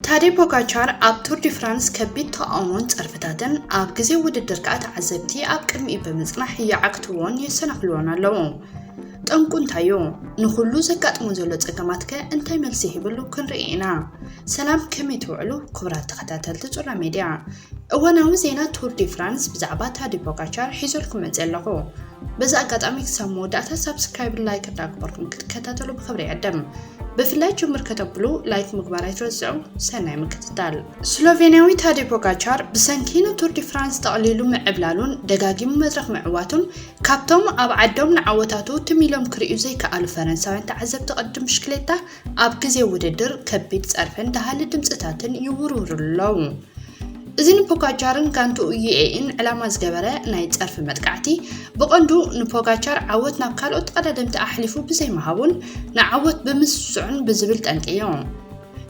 ታዴ ፖጋቻር ኣብ ቱር ዲ ፍራንስ ከቢድ ተቓውሞን ጸርፍታትን፣ ኣብ ግዜ ውድድር ከኣ ተዓዘብቲ ኣብ ቅድሚኡ ብምጽናሕ ይዓግትዎን የሰናኽልዎን ኣለዉ። ጠንቁ እንታይ'ዩ? ንኹሉ ዘጋጥሞ ዘሎ ጸገማትከ እንታይ መልሲ ሂብሉ? ክንርኢ ኢና። ሰላም ከመይ ትውዕሉ ክቡራት ተኸታተልቲ ጹራ ሜድያ። እዋናዊ ዜና ቱር ዲ ፍራንስ ብዛዕባ ታዴ ፖጋቻር ሒዘልኩም መጺእ ኣለኹ። በዚ ኣጋጣሚ ክሳብ መወዳእታ ሳብስክራይብን ላይክ እንዳገበርኩም ክትከታተሉ ብኽብሪ ይዕድም። ብፍላይ ጅምር ከተብሉ ላይክ ምግባር ኣይትረስዑ። ሰናይ ምክትታል። ስሎቬንያዊ ታዴ ፖጋቻር ብሰንኪ ንቱር ዲ ፍራንስ ጠቕሊሉ ምዕብላሉን ደጋጊሙ መድረኽ ምዕዋቱን ካብቶም ኣብ ዓዶም ንዓወታቱ ትም ኢሎም ክርእዩ ዘይከኣሉ ፈረንሳውያን ተዓዘብቲ ቅድድም ብሽክሌታ ኣብ ግዜ ውድድር ከቢድ ጸርፍን ደሃሊ ድምጽታትን ይውርውርሉ ኣለዉ። እዚ ንፖጋቻርን ጋንትኡ ዩኤኢን ዕላማ ዝገበረ ናይ ጸርፊ መጥቃዕቲ፣ ብቐንዱ ንፖጋቻር ዓወት ናብ ካልኦት ተቐዳደምቲ ኣሕሊፉ ብዘይምሃቡን ንዓወት ብምስስዑን ብዝብል ጠንጢዮ።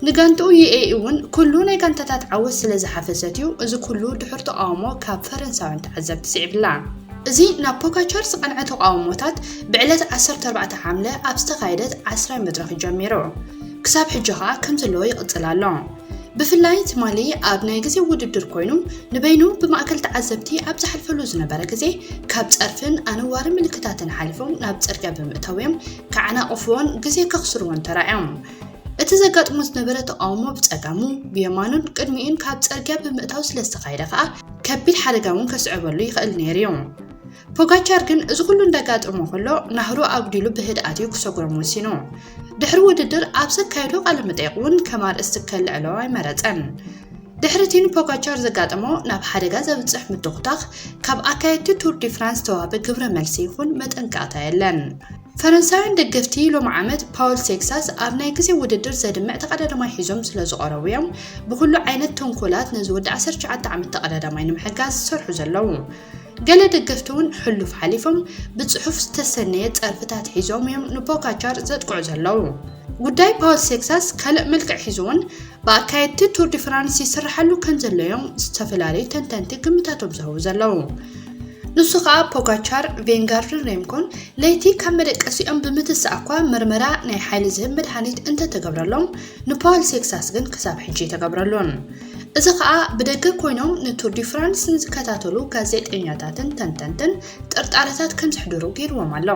ንጋንትኡ ዩኤኢ እውን ኩሉ ናይ ጋንታታት ዓወት ስለ ዝሓፈሰት እዩ እዚ ኩሉ ድሑር ተቓውሞ ካብ ፈረንሳውያን ተዓዘብቲ ስዒብላ። እዚ ናብ ፖጋቻር ዝቐንዐ ተቓውሞታት ብዕለት ዓሰርተ ኣርባዕተ ሓምለ ኣብ ዝተኻየደት ዓስራይ መድረኽ ጀሚሩ ክሳብ ሕጂ ከኣ ከምዘለዎ ይቕጽል ኣሎ። ብፍላይ ትማሊ ኣብ ናይ ግዜ ውድድር ኮይኑ ንበይኑ ብማእከል ተዓዘብቲ ኣብ ዝሓልፈሉ ዝነበረ ግዜ ካብ ጸርፍን ኣነዋሪ ምልክታትን ሓሊፎም ናብ ጽርግያ ብምእታው እዮም ከዓናቕፍዎን ግዜ ከኽስርዎን ተራእዮም። እቲ ዘጋጥሞ ዝነበረ ተቃውሞ ብጸጋሙ ብየማኑን ቅድሚኡን ካብ ጸርግያ ብምእታው ስለ ዝተኻየደ ከኣ ከቢድ ሓደጋ እውን ከስዕበሉ ይኽእል ነይሩ እዩ። ፖጋቻር ግን እዚ ኩሉ እንዳጋጠሞ ከሎ ናህሩ ኣጉዲሉ ብህድኣት እዩ ክሰጉሮም ወሲኑ። ድሕሪ ውድድር ኣብ ዘካየዶ ቃለ መጠይቕ እውን ከም ኣርእስቲ ከልዕሎ ኣይመረጸን። ድሕሪ እቲ ንፖጋቻር ዘጋጠሞ ናብ ሓደጋ ዘብጽሕ ምትኹታኽ ካብ ኣካየድቲ ቱር ዲ ፍራንስ ዝተዋህበ ግብረ መልሲ ይኹን መጠንቀቕታ የለን። ፈረንሳውያን ደገፍቲ ሎሚ ዓመት ፓውል ቴክሳስ ኣብ ናይ ግዜ ውድድር ዘድምዕ ተቐዳዳማይ ሒዞም ስለ ዝቐረቡ እዮም ብኹሉ ዓይነት ተንኮላት ነዚ ወዲ 19 ዓመት ተቐዳዳማይ ንምሕጋዝ ዝሰርሑ ዘለዉ። ገለ ደገፍቲ እውን ሕሉፍ ሓሊፎም ብጽሑፍ ዝተሰነየ ጸርፍታት ሒዞም እዮም ንፖጋቻር ዘጥቅዑ ዘለዉ። ጉዳይ ፓውል ሴክሳስ ካልእ መልክዕ ሒዙ እውን ብኣካየድቲ ቱር ዲ ፍራንስ ይስርሓሉ ከም ዘሎ እዮም ዝተፈላለዩ ተንተንቲ ግምታቶም ዝህቡ ዘለዉ። ንሱ ከኣ ፖጋቻር፣ ቬንጋርድን ሬምኮን ለይቲ ካብ መደቀሲኦም ብምትሳእ እኳ ምርመራ ናይ ሓይሊ ዝህብ መድሃኒት እንተተገብረሎም ንፓውል ሴክሳስ ግን ክሳብ ሕጂ ኣይተገብረሉን። እዚ ከኣ ብደገ ኮይኖም ንቱር ዲ ፍራንስ ንዝከታተሉ ጋዜጠኛታትን ተንተንትን ጥርጣረታት ከም ዘሕድሩ ገይርዎም ኣሎ።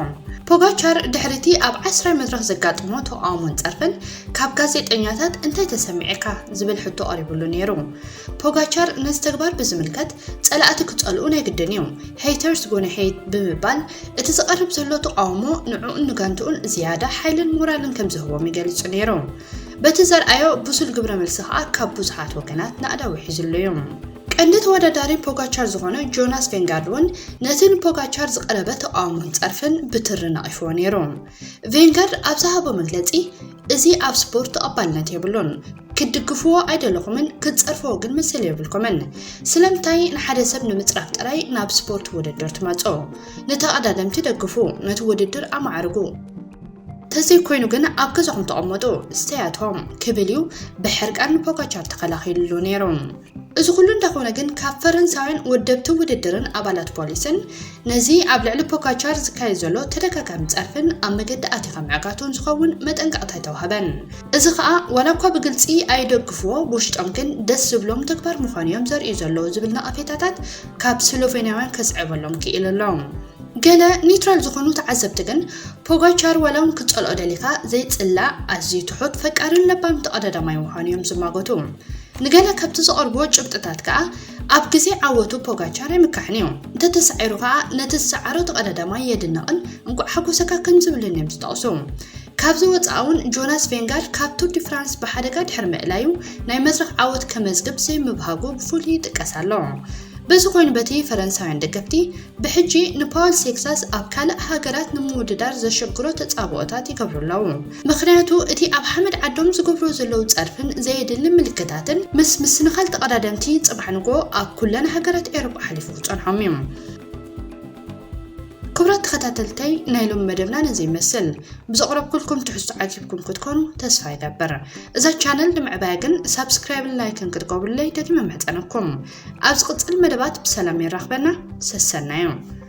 ፖጋቻር ድሕሪ እቲ ኣብ ዓስራይ መድረኽ ዘጋጥሞ ተቓውሞን ጸርፍን ካብ ጋዜጠኛታት እንታይ ተሰሚዕካ ዝብል ሕቶ ቀሪብሉ ነይሩ። ፖጋቻር ነዚ ተግባር ብዝምልከት ጸላእቲ ክጸልኡ ናይ ግድን እዩ፣ ሄይተርስ ጎነ ሄይት ብምባል እቲ ዝቐርብ ዘሎ ተቓውሞ ንዕኡን ንጋንትኡን ዝያዳ ሓይልን ሞራልን ከም ዝህቦም ይገልጹ ነይሩ። በቲ ዘርኣዮ ብሱል ግብረመልሲ ከኣ ካብ ብዙሓት ወገናት ናእዳ ውሒዙሉ እዩ። ቀንዲ ተወዳዳሪ ፖጋቻር ዝኾነ ጆናስ ቬንጋርድ እውን ነቲ ንፖጋቻር ዝቐረበ ተቓውሞን ጸርፍን ብትሪ ነቒፍዎ ነይሩ። ቬንጋርድ ኣብ ዝሃቦ መግለጺ፣ እዚ ኣብ ስፖርት ተቐባልነት የብሉን፣ ክትድግፍዎ ኣይደለኹምን፣ ክትጸርፍዎ ግን መሰል የብልኩምን። ስለምንታይ ንሓደ ሰብ ንምጽራፍ ጥራይ ናብ ስፖርት ውድድር ትመጹ? ንተቐዳደምቲ ደግፉ፣ ነቲ ውድድር ኣማዕርጉ። ተዘይኮይኑ ግን ኣብ ገዛኹም ተቐመጡ ስተያቶ ክብል እዩ ብሕርቃን ንፖጋቻር ተኸላኺልሉ ነይሩ። እዚ ኩሉ እንተኾነ ግን ካብ ፈረንሳውያን ወደብቲ ውድድርን ኣባላት ፖሊስን ነዚ ኣብ ልዕሊ ፖካቻር ዝካየድ ዘሎ ተደጋጋሚ ጸርፍን ኣብ መገዲ ኣቲኻ ምዕጋቱን ዝኸውን መጠንቀቕታ ኣይተዋህበን። እዚ ከኣ ዋላ እኳ ብግልጺ ኣይደግፍዎ ብውሽጦም ግን ደስ ዝብሎም ተግባር ምዃኑ እዮም ዘርእዩ ዘለዉ ዝብል ነቐፌታታት ካብ ስሎቬንያውያን ከስዕበሎም ክኢሉ ኣሎ። ገለ ኒውትራል ዝኾኑ ተዓዘብቲ ግን ፖጋቻር ዋላውን ክትጸልኦ ደሊኻ ዘይጽላእ ኣዝዩ ትሑት ፈቃርን ለባም ተቐዳዳማይ ምዃኑ እዮም ዝማጎቱ። ንገለ ካብቲ ዘቐርብዎ ጭብጥታት ከኣ ኣብ ግዜ ዓወቱ ፖጋቻር ኣይምካሕን እዩ፣ እንተተሳዒሩ ከኣ ነቲ ዝሰዓሮ ተቐዳዳማይ የድንቕን እንቋዕ ሓጎሰካ ከም ዝብልን እዮም ዝጠቕሱ። ካብዚ ወጻኢ እውን ጆናስ ቬንጋርድ ካብ ቱር ዲ ፍራንስ ብሓደጋ ድሕሪ ምእላዩ ናይ መድረኽ ዓወት ከመዝግብ ዘይምብሃጉ ብፍሉይ ይጥቀስ ኣሎ። በዚ ኮይኑ በቲ ፈረንሳውያን ደገፍቲ ብሕጂ ንፓወል ሴክሳስ ኣብ ካልእ ሃገራት ንምውድዳር ዘሸግሮ ተጻብኦታት ይገብሩ ኣለዉ። ምኽንያቱ እቲ ኣብ ሓመድ ዓዶም ዝገብርዎ ዘለዉ ጸርፍን ዘየድሊ ምልክታትን ምስ ምስንኻል ተቐዳደምቲ ጽባሕ ንግሆ ኣብ ኩለን ሃገራት ኤውሮጳ ሓሊፉ ክጸንሖም እዩ። ክብራት ተኸታተልተይ ናይ ሎሚ መደብና ነዚ ይመስል። ብዘቕረብኩልኩም ትሕዝቶ ዓጊብኩም ክትኮኑ ተስፋ ይገብር። እዛ ቻነል ንምዕባያ ግን ሳብስክራይብን ላይክን ክትገብሩለይ ደጊመ ምሕጸነኩም ኣብ ዝቕጽል መደባት ብሰላም የራኽበና ሰሰናዮም